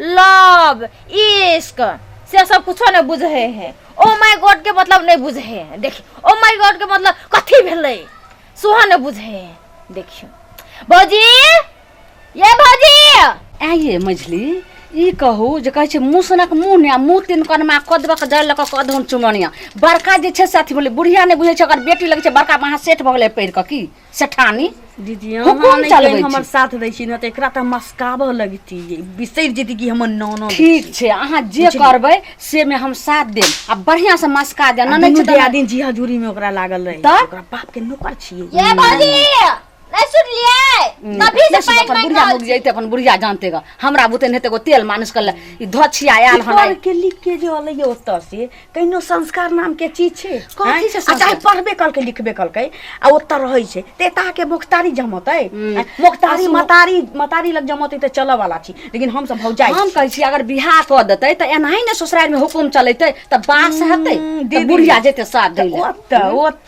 Love इश्क से सब कुछो नहि बुझे है ओ माय गॉड के मतलब नहि बुझे है देखियो ओ माय गॉड के मतलब कथी भेलै सेहो नहि बुझे है देखियो भौजी ये भौजी ऐ ये मझली ई कहू जे कहै छै मुसनक मुँह ने आ मुँह तीन कनमा कदबक जल लऽ कऽ कदहुन चुमनिया बड़का जे छै से अथी भेलै बुढ़िया नहि बुझै छै ओकर बेटी लगै छै बड़का महा सेठ भऽ गेलै पढ़ि कऽ की सेठानी दीदी अहाँ हुकुम नहि चलबै कहि हमर छी साथ दै छी ने तऽ एकरा तऽ मस्काबऽ लगती बिसरि जेती कि हमर ननद ठीक छै अहाँ जे करबै से मे हम साथ देब आ बढ़िया से मस्का देब आ नहि दुनू छै तऽ दियादिन जी हजूरी में ओकरा लागल रहे तऽ? ओकरा बाप के नौकर छियै ये भौजी नहीं सुनलिए तभी से पैर अपन मांग बुढ़िया रहल मुक जैते अपन बुढ़िया जानते ग हमरा बुते नहीं तेगो तेल मालिश कर ले ई धछिया आयल हन पर के लिख के जे अलै ओतऽ से कहिनो संस्कार नामके चीज छै कथी आँय? छै आ चाहे संस्कार? पढ़बे कलकै लिखबे कलकै आ ओतऽ रहै छै तऽ एताके मोखतारी जमतै हम्म। मोखतारी आ सुन- मतारी मतारी लग जमतै तऽ चलऽ वाला छी लेकिन हम सब भौजाइ हम कहै छी अगर बियाह कऽ देतै तऽ एनाही ने ससुरारि में हुकुम चलेतै तऽ बास हेतै तऽ दीदी। बुढ़िया जेतै साथ दै लए ओतऽ ओतऽ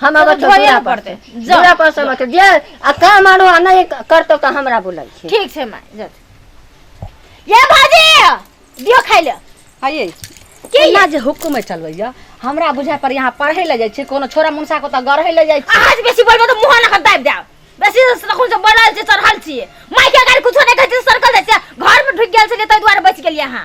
हम तो आवत धोइए दूरा पर पड़ते। से। जाओ। दूरा पर से मत जे आ काम आरो आ नहीं करतो तो हमरा बोलै छी ठीक छै माय जा ये भाजी दियो खाइ ले आइए के ये? ना जे हुकुम है चलबैया हमरा बुझा पर यहाँ पढ़े ले जाइ छै कोनो छोरा मुनसा को तऽ गढ़े ले जाइ छै अहाँ जे बेसी बोलबो तऽ मुँह नखन दाबि देब बेसी तखन से बोलल छी चढ़ल छी माय के अगर कुछो नहि कहै छी सरकल जाइ छी घर में ढुकि गेल छलियै ताहि दुआरे बचि गेलियै अहाँ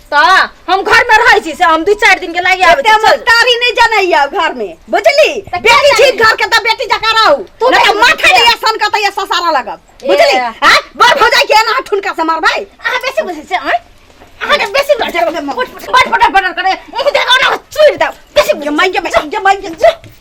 त हम घर में रहै छी से हम दू चार दिन के लागि आबै एते छी चल। मस्कारी नहीं जानैया घर में बुझली का बेटी छी घर के त बेटी जका रहू तू नहीं त बेटी माथा छियै। नहीं सन कतै ससारा लगब ए। बुझली हां बर भौजाई के ना ठुनका से मारबै अहाँ बेसी बुझै छै अँ? अहाँके बेसी बुझै छै। पट पट पट पट पट करे मुँह देखा ना चुरि देब बेसी बुझै छै। जमाई जमाई जमाई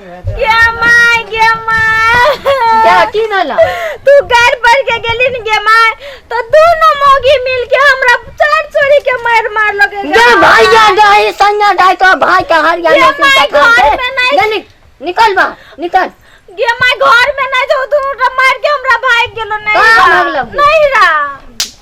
गे माय गे माय क्या की भेला तू घर पर के गेली न गे माय तो दोनों मोगी मिल के हमरा चार चोरी के मार मार लगे गे भाई जा गए संगा डाय तो भाई का हर या गे माय घर में नहीं निकल बा निकल गे माय घर में नहीं जो दोनों मार के हमरा भाग गेलो नहीं कहाँ भागलो? नहीं रा